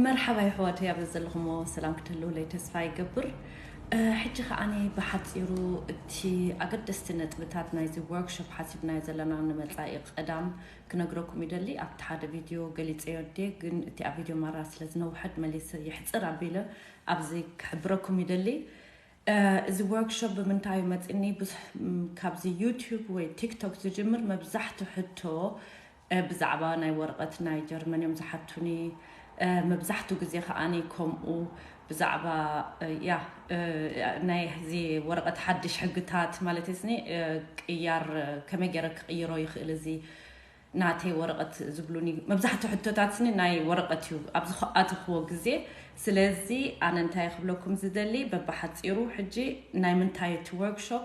መርሓባ የሕዋተይ ኣብ ዘለኹሞ ሰላም ክትህልውለይ ተስፋ ይገብር ሕጂ ከዓኒ ብሓፂሩ እቲ ኣገደስቲ ነጥብታት ናይዚ ወርክሾፕ ሓሲብናዮ ዘለና ንመፃኢ ቀዳም ክነግረኩም ይደሊ ኣብቲ ሓደ ቪድዮ ገሊፀዮ ዴ ግን እቲ ኣብ ቪድዮ ማራ ስለ ዝነውሐድ መሊሰ የሕፅር ኣቢለ ኣብዚ ክሕብረኩም ይደሊ እዚ ዎርክሾፕ ብምንታይ እዩ መጺኒ ብዙሕ ካብዚ ዩቱብ ወይ ቲክቶክ ዝጅምር መብዛሕቱ ሕቶ ብዛዕባ ናይ ወረቐት ናይ ጀርመን እዮም ዝሓቱኒ መብዛሕቱ ግዜ ከኣ ከምኡ ብዛዕባ ያ ናይ እዚ ወረቐት ሓድሽ ሕግታት ማለት ስኒ ቅያር ከመይ ገይረ ክቕይሮ ይኽእል እዚ ናተይ ወረቐት ዝብሉኒ መብዛሕትኡ ሕቶታትኒ ናይ ወረቐት እዩ ኣብ ዝኣተኽዎ ግዜ። ስለዚ ኣነ እንታይ ክብለኩም ዝደሊ በብሓጺሩ ሕጂ ናይ ምንታይ እቲ ወርክሾፕ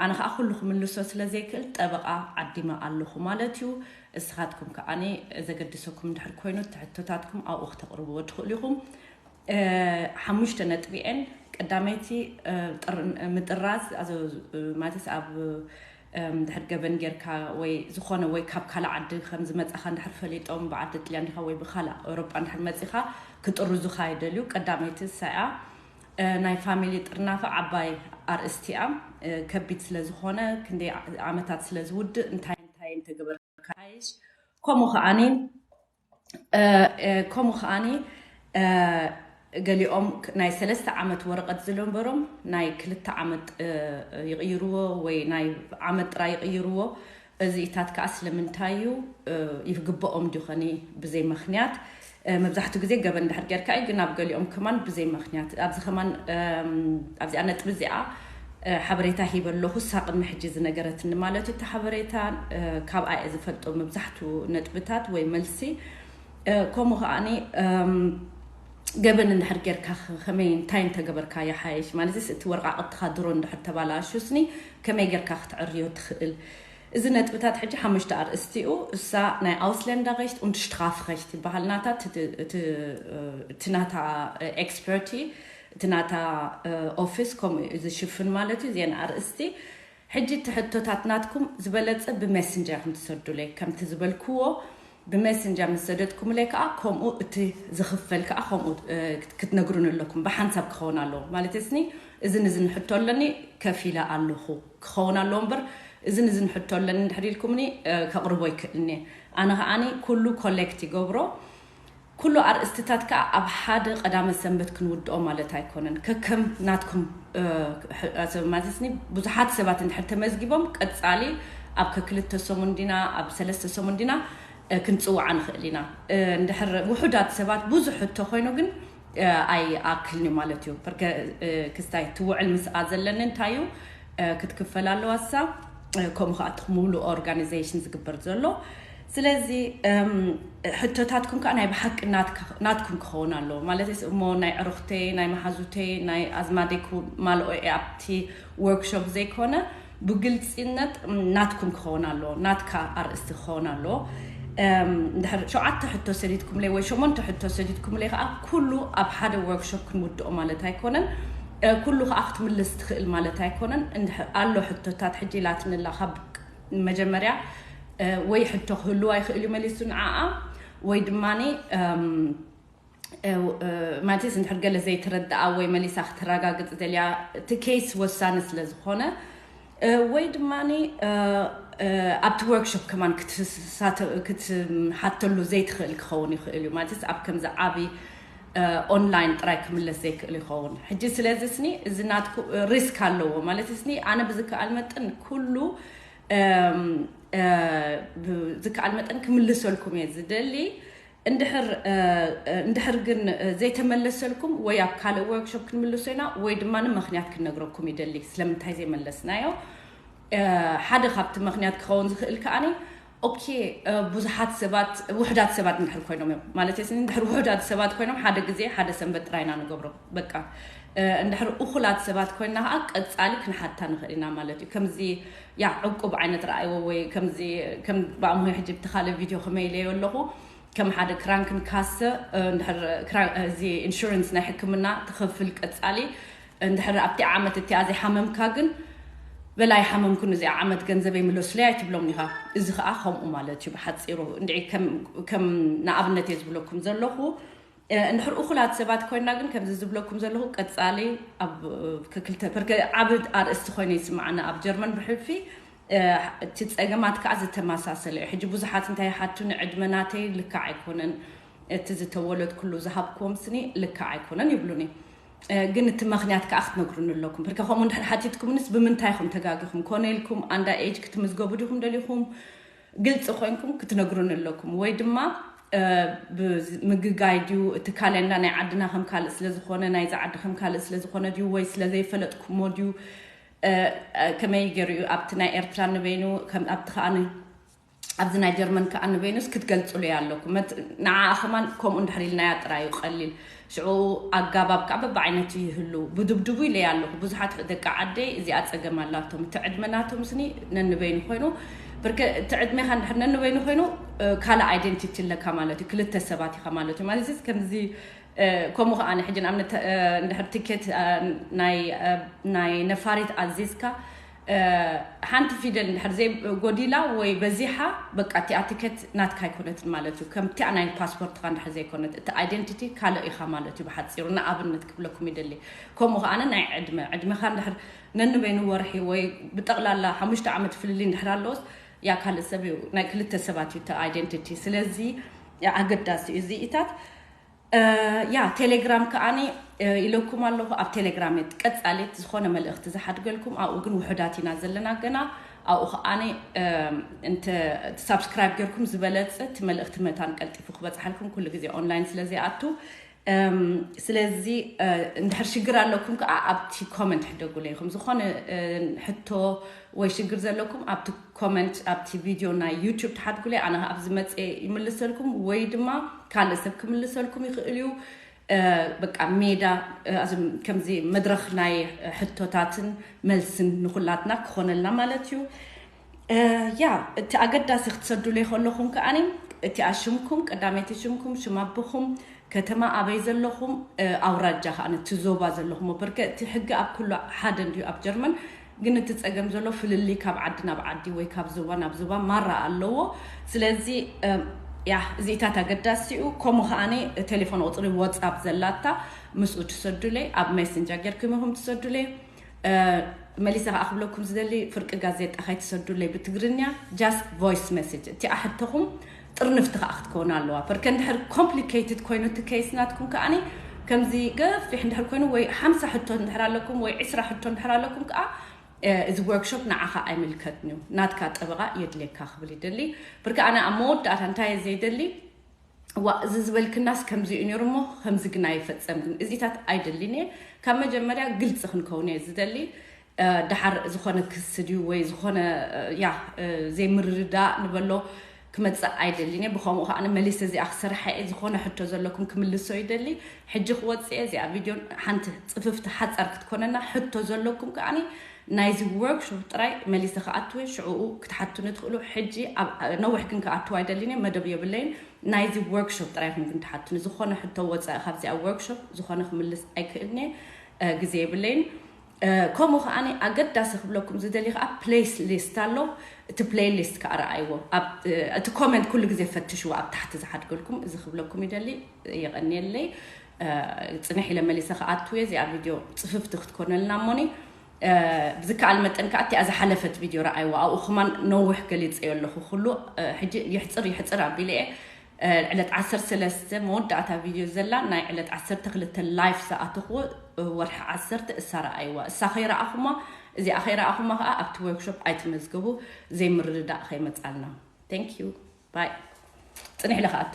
ኣነ ከዓ ኩሉ ክምልሶ ስለ ዘይክእል ጠበቓ ዓዲመ ኣለኹ ማለት እዩ። እስኻትኩም ከዓ ዘገድሰኩም እንድሕር ኮይኑ እቲ ሕቶታትኩም ኣብኡ ክተቕርብዎ ትኽእሉ ኢኹም። ሓሙሽተ ነጥቢ እየን ቀዳመይቲ ምጥራዝ ማለት ኣብ እንድሕር ገበን ጌርካ ወይ ዝኾነ ወይ ካብ ካልእ ዓዲ ከም ዝመጻኻ እንድሕር ፈሊጦም ብዓዲ ጥልያን ዲኻ ወይ ብካልእ ኤውሮጳ እንድሕር መጺኻ ክጥርዙኻ ይደልዩ ቀዳመይቲ ንሳ'ያ ናይ ፋሚሊ ጥርናፈ ዓባይ ኣርእስቲ'ያ ከቢድ ስለ ዝኾነ ክንደይ ዓመታት ስለ ዝውድእ እንታይ እንታይ እንተገበርካ ይሓይሽ ከምኡ ከኣ ከምኡ ከኣኒ ገሊኦም ናይ ሰለስተ ዓመት ወረቐት ዝነበሮም ናይ ክልተ ዓመት ይቕይርዎ ወይ ናይ ዓመት ጥራይ ይቕይርዎ። እዚኢታት ከኣ ስለምንታይ እዩ ይግበኦም ድዩ ኸኒ ብዘይ ምክንያት መብዛሕትኡ ግዜ ገበን እንድሕር ጌርካ እዩ ግን ኣብ ገሊኦም ከማን ብዘይ ምክንያት ኣብዚ ከማን ኣብዚኣ ነጥቢ እዚኣ ሓበሬታ ሂበ ኣለኹ እሳ ቅድሚ ሕጂ ዝነገረትኒ ማለት እዩ እቲ ሓበሬታ ካብኣ እየ ዝፈልጦ መብዛሕቱ ነጥብታት ወይ መልሲ ከምኡ ከዓኒ ገበን እንድሕር ጌርካ ከመይ እንታይ እንተገበርካ ይሓይሽ ማለትስ እቲ ወረቃቅትኻ ድሮ እንድሕር ተባላሹስኒ ከመይ ጌርካ ክትዕርዮ ትኽእል እዚ ነጥብታት ሕጂ ሓሙሽተ ኣርእስቲ እዩ እሳ ናይ ኣውስለንዳ ገሽት und Strafrecht ይበሃል ናታ እቲ ናታ ኤክስፐርቲ እቲ ናታ ኦፍስ ከምኡ እዩ ዝሽፍን ማለት እዩ ዜና ኣርእስቲ ሕጂ እቲ ሕቶታት ናትኩም ዝበለጸ ብሜስንጀር ኢኹም ትሰዱለይ ከምቲ ዝበልክዎ ብሜስንጀር ምስ ሰደድኩምለይ ከኣ ከምኡ እቲ ዝኽፈል ከኣ ከምኡ ክትነግሩኒ ኣለኩም ብሓንሳብ ክኸውን ኣለዎ ማለትስኒ እዝን እዝን ሕቶ ኣለኒ ከፊለ ኣለኹ ክኸውን ኣለዎ እምበር እዝን እዝን ሕቶ ኣለኒ እንድሕር ኢልኩምኒ ከቕርቦ ይክእልኒ ኣነ ከኣኒ ኩሉ ኮሌክት ይገብሮ ኩሉ ኣርእስትታት ከኣ ኣብ ሓደ ቀዳመ ሰንበት ክንውድኦ ማለት ኣይኮነን። ከከም ናትኩም ሕጽር ማዝስኒ ብዙሓት ሰባት እንድሕር ተመዝጊቦም ቀጻሊ ኣብ ከክልተ ሰሙን ዲና ኣብ ሰለስተ ሰሙን ዲና ክንጽውዓ ንኽእል ኢና። እንድሕር ውሑዳት ሰባት ብዙሕ ሕቶ ኮይኑ ግን ኣይኣክልንዩ ማለትዩ። ፐርከ ክስታይ ትውዕል ምስኣ ዘለኒ እንታይዩ ክትክፈል ኣለዋሳ ከምኡ ከኣ እቲ ምሉእ ኦርጋኒዘሽን ዝግበር ዘሎ ስለዚ ሕቶታትኩም ከኣ ናይ ብሓቂ ናትኩም ክኸውን ኣለዎ ማለተይስ እሞ ናይ ዕሩኽተይ ናይ መሓዙተይ ናይ ኣዝማደይ ክማልኦ እየ ኣብቲ ዎርክሾፕ ዘይኮነ ብግልጺነት ናትኩም ክኸውን ኣለዎ ናትካ ኣርእስቲ ክኸውን ኣለዎ እንድሕር ሸውዓተ ሕቶ ሰዲድኩምለይ ወይ ሸሞንተ ሕቶ ሰዲድኩምለይ ከኣ ኩሉ ኣብ ሓደ ዎርክሾፕ ክንውድኦ ማለት ኣይኮነን ኩሉ ከኣ ክትምልስ ትኽእል ማለት ኣይኮነን ኣሎ ሕቶታት ሕጂ ላትንላ ካብ መጀመርያ ወይ ሕቶ ክህልዋ ይኽእል እዩ መሊሱ ንዓኣ ወይ ድማ ማለትስ እንድሕር ገለ ዘይተረድኣ ወይ መሊሳ ክትረጋግፅ ደልያ እቲ ኬስ ወሳኒ ስለ ዝኾነ ወይ ድማ ኣብቲ ወርክሾፕ ከማን ክትሓተሉ ዘይትኽእል ክኸውን ይኽእል እዩ ማለትስ ኣብ ከምዚ ዓብይ ኦንላይን ጥራይ ክምለስ ዘይክእል ይኸውን ሕጂ ስለዚ ስኒ እዚ ናትኩ ሪስክ ኣለዎ ማለት ስኒ ኣነ ብዝከኣል መጠን ኩሉ ዝከኣል መጠን ክምልሰልኩም እየ ዝደሊ እንድሕር ግን ዘይተመለሰልኩም ወይ ኣብ ካልእ ወርክሾፕ ክንምልሶ ኢና ወይ ድማ ምክንያት ክንነግረኩም ይደሊ ስለምንታይ ዘይመለስናዮ ሓደ ካብቲ ምክንያት ክኸውን ዝኽእል ከዓኒ ኦኬ ብዙሓት ሰባት ውሕዳት ሰባት እንድሕር ኮይኖም እዮም ማለት ስኒ እንድሕር ውሕዳት ሰባት ኮይኖም ሓደ ግዜ ሓደ ሰንበት ጥራይ ኢና ንገብሮ በቃ እንድሕር እኹላት ሰባት ኮይና ከዓ ቀፃሊ ክንሓታ ንኽእል ኢና ማለት እዩ ከምዚ ያ ዕቁብ ዓይነት ረኣይዎ ወይ ከምዚ ከም ብኣምሆ ሕጂ ብቲ ካልእ ቪድዮ ከመይለዮ ኣለኹ ከም ሓደ ክራንክን ካሰ እንድሕር እዚ ኢንሹራንስ ናይ ሕክምና ትኸፍል ቀፃሊ እንድሕር ኣብቲ ዓመት እቲኣ ዘይሓመምካ ግን በል ኣይሓመምኩን እዚኣ ዓመት ገንዘበይ ምለሱለይ ኣይትብሎም ኒኻ እዚ ኸኣ ከምኡ ማለት እዩ ብሓጺሩ እንድዒ ከም ንኣብነት እየ ዝብለኩም ዘለኹ እንድሕር እኹላት ሰባት ኮይና ግን ከምዚ ዝብለኩም ዘለኹ ቀጻሊ ኣብ ክክልተ ብርከ ዓብ ኣርእስቲ ኮይኑ ይስምዓና ኣብ ጀርመን ብሕልፊ እቲ ፀገማት ከዓ ዝተመሳሰለ እዩ ሕጂ ብዙሓት እንታይ ይሓቱኒ ዕድመ ናተይ ልክዕ ኣይኮነን እቲ ዝተወለድኩሉ ዝሃብክዎም ስኒ ልክዕ ኣይኮነን ይብሉኒ ግን እቲ መክንያት ከኣ ክትነግሩኒ ኣለኩም ብርከ ከምኡ እንድሕር ሓቲትኩምንስ ብምንታይ ኢኹም ተጋጊኹም ኮነ ኢልኩም ኣንዳ ኤጅ ክትምዝገቡ ዲኹም ደሊኹም ግልፂ ኮይንኩም ክትነግሩኒ ኣለኩም ወይ ድማ ምግጋይ ድዩ እቲ ካሌንዳ ናይ ዓድና ከም ካልእ ስለዝኾነ ናይዚ ዓዲ ከም ካልእ ስለዝኾነ ድዩ ወይ ስለዘይፈለጥኩሞ ድዩ ከመይ ገይሩ እዩ ኣብቲ ናይ ኤርትራ ንበይኑ ኣብቲ ከኣ ኣብዚ ናይ ጀርመን ከኣ ንቬኑስ ክትገልጽሉያ ኣለኩም ንዓኣ ከማን ከምኡ እንድሕር ኢልናያ ጥራዩ ቀሊል ሽዑ ኣጋባብ ከኣ በብዓይነቱ ይህሉ ብድብድቡ ኢለያ ኣለኩ ብዙሓት ደቂ ዓደይ እዚኣ ጸገም ኣላቶም እቲ ዕድመ ናቶምስኒ ነንበይኑ ኮይኑ ብርክ እቲ ዕድሜኻ እንድሕር ነንበይኑ ኮይኑ ካልእ ኣይደንቲቲ ኣለካ ማለት እዩ ክልተ ሰባት ኢኻ ማለት እዩ ማለት ከምዚ ከምኡ ከኣ ሕጂ ንኣብነት እንድሕር ትኬት ናይ ነፋሪት ኣዚዝካ ሓንቲ ፊደል እንድሕር ዘይ ጎዲላ ወይ በዚሓ በቃ እቲኣ ቲኬት ናትካ ኣይኮነትን ማለት እዩ ከምቲኣ ናይ ፓስፖርትካ እንድሕር ዘይኮነት እቲ ኣይደንቲቲ ካልእ ኢኻ ማለት እዩ ብሓፂሩ ንኣብነት ክብለኩም ይደሊ ከምኡ ከዓነ ናይ ዕድመ ዕድመካ እንድሕር ነንበይኑ ወርሒ ወይ ብጠቕላላ ሓሙሽተ ዓመት ፍልልይ እንድሕር ኣለዎስ ያ ካልእ ሰብ እዩ ናይ ክልተ ሰባት እዩ እቲ ኣይደንቲቲ ስለዚ ኣገዳሲ እዩ እዚኢታት ያ ቴሌግራም ከኣኒ ኢለኩም ኣለኹ ኣብ ቴሌግራም እየ ቀጻሊት ዝኾነ መልእኽቲ ዝሓድገልኩም ኣብኡ ግን ውሑዳት ኢና ዘለና ገና ኣብኡ ከኣኒ እንተ ሳብስክራይብ ጌርኩም ዝበለጽ እቲ መልእኽቲ መታን ቀልጢፉ ክበጽሓልኩም ኩሉ ግዜ ኦንላይን ስለ ዘይኣቱ ስለዚ እንድሕር ሽግር ኣለኩም ከዓ ኣብቲ ኮመንት ሕደጉለይኹም ዝኾነ ሕቶ ወይ ሽግር ዘለኩም ኣብቲ ኮመንት ኣብቲ ቪድዮ ናይ ዩቱብ ትሓትኩለይ ኣነ ከኣ ኣብ ዝመጽኤ ይምልሰልኩም ወይ ድማ ካልእ ሰብ ክምልሰልኩም ይኽእል እዩ በቃ ሜዳ ከምዚ መድረኽ ናይ ሕቶታትን መልስን ንኹላትና ክኾነልና ማለት እዩ ያ እቲ ኣገዳሲ ክትሰዱለይ ከለኹም ከኣኒ እቲኣ ሽምኩም ቀዳመይቲ ሽምኩም ሽም ኣቦኹም ከተማ ኣበይ ዘለኹም ኣውራጃ ከዓ እቲ ዞባ ዘለኹም በርከ እቲ ሕጊ ኣብ ኩሉ ሓደ እንድዩ ኣብ ጀርመን ግን እቲ ጸገም ዘሎ ፍልልይ ካብ ዓዲ ናብ ዓዲ ወይ ካብ ዞባ ናብ ዞባ ማራ ኣለዎ ስለዚ ያህ እዚኢታት ኣገዳሲኡ ከምኡ ከኣኒ ቴሌፎን ቁጽሪ ወጻፕ ዘላታ ምስኡ ትሰዱለይ ኣብ ሜስንጃ ጌርኩም ኢኹም ትሰዱለይ መሊሰ ከኣ ክብለኩም ዝደሊ ፍርቂ ጋዜጣ ከይትሰዱለይ ብትግርኛ ጃስት ቮይስ ሜሴጅ እቲኣ ሕቶኹም ጥርንፍቲ ከኣ ክትከውን ኣለዋ። ፐርከ እንድሕር ኮምፕሊከይትድ ኮይኑ እቲ ኬይስ ናትኩም ከኣ ከምዚ ገፊሕ እንድሕር ኮይኑ ወይ ሓምሳ ሕቶ እንድሕር ኣለኩም ወይ ዕስራ ሕቶ እንድሕር ኣለኩም ከኣ እዚ ወርክሾፕ ንዓኻ ኣይምልከትን እዩ ናትካ ጠበቓ የድልየካ ክብል ይደሊ። ፐርከ ኣነ ኣብ መወዳእታ እንታይ እየ ዘይደሊ ዋእ እዚ ዝበልክናስ ከምዚ እዩ ነይሩ እሞ ከምዚ ግን ኣይፈጸምክን እዚታት ኣይደሊን እየ ካብ መጀመርያ ግልጺ ክንከውን እየ ዝደሊ ደሓር ዝኾነ ክሲ ድዩ ወይ ዝኾነ ያ ዘይምርድዳእ ንበሎ ክመፅእ ኣይደልን እየ ብከምኡ ከዓ መሊሰ እዚኣ ክሰርሓ እየ ዝኾነ ሕቶ ዘለኩም ክምልሶ ይደሊ ሕጂ ክወፅእ እየ እዚኣ ቪድዮ ሓንቲ ፅፍፍቲ ሓፃር ክትኮነና ሕቶ ዘለኩም ከዓኒ ናይዚ ወርክሾፕ ጥራይ መሊሰ ክኣትው እየ ሽዕኡ ክትሓቱኒ ትኽእሉ ሕጂ ነዊሕ ግን ክኣትው ኣይደልን እየ መደብ የብለይን ናይዚ ወርክሾፕ ጥራይ ኢኹም ግን ትሓቱኒ ዝኾነ ሕቶ ወፃኢ ካብዚኣ ወርክሾፕ ዝኾነ ክምልስ ኣይክእልን እየ ግዜ የብለይን ከምኡ ከኣ ኣገዳሲ ክብለኩም ዝደሊ ከኣ ፕሌስ ሊስት ኣሎ እቲ ፕሌይ ሊስት ከኣ ረኣይዎ እቲ ኮመንት ኩሉ ግዜ ፈትሽዎ ኣብ ታሕቲ ዝሓድገልኩም እዚ ክብለኩም ይደሊ የቀንየለይ ፅንሕ ኢለ መሊሰ ክኣትው እየ እዚኣ ቪድዮ ፅፍፍቲ ክትኮነልና እሞኒ ብዝከኣል መጠን ከዓ እቲኣ ዝሓለፈት ቪድዮ ረኣይዋ ኣብኡ ከማን ነዊሕ ገሊፀዮ ኣለኹ ኩሉ ሕጂ ይሕፅር ይሕፅር ኣቢለ እየ ዕለት ዓሰርተ ሰለስተ መወዳእታ ቪድዮ ዘላ ናይ ዕለት ዓሰርተ ክልተ ላይፍ ዝኣተኽዎ ወርሒ ዓሰርተ እሳ ረኣይዋ እሳ ከይረኣኹማ እዚኣ ከይረኣኹማ ከዓ ኣብቲ ወርክሾፕ ኣይትመዝገቡ ዘይምርድዳእ ከይመፃልና ቴንክ ዩ ባይ ፅኒሕ ኢለ ክኣቱ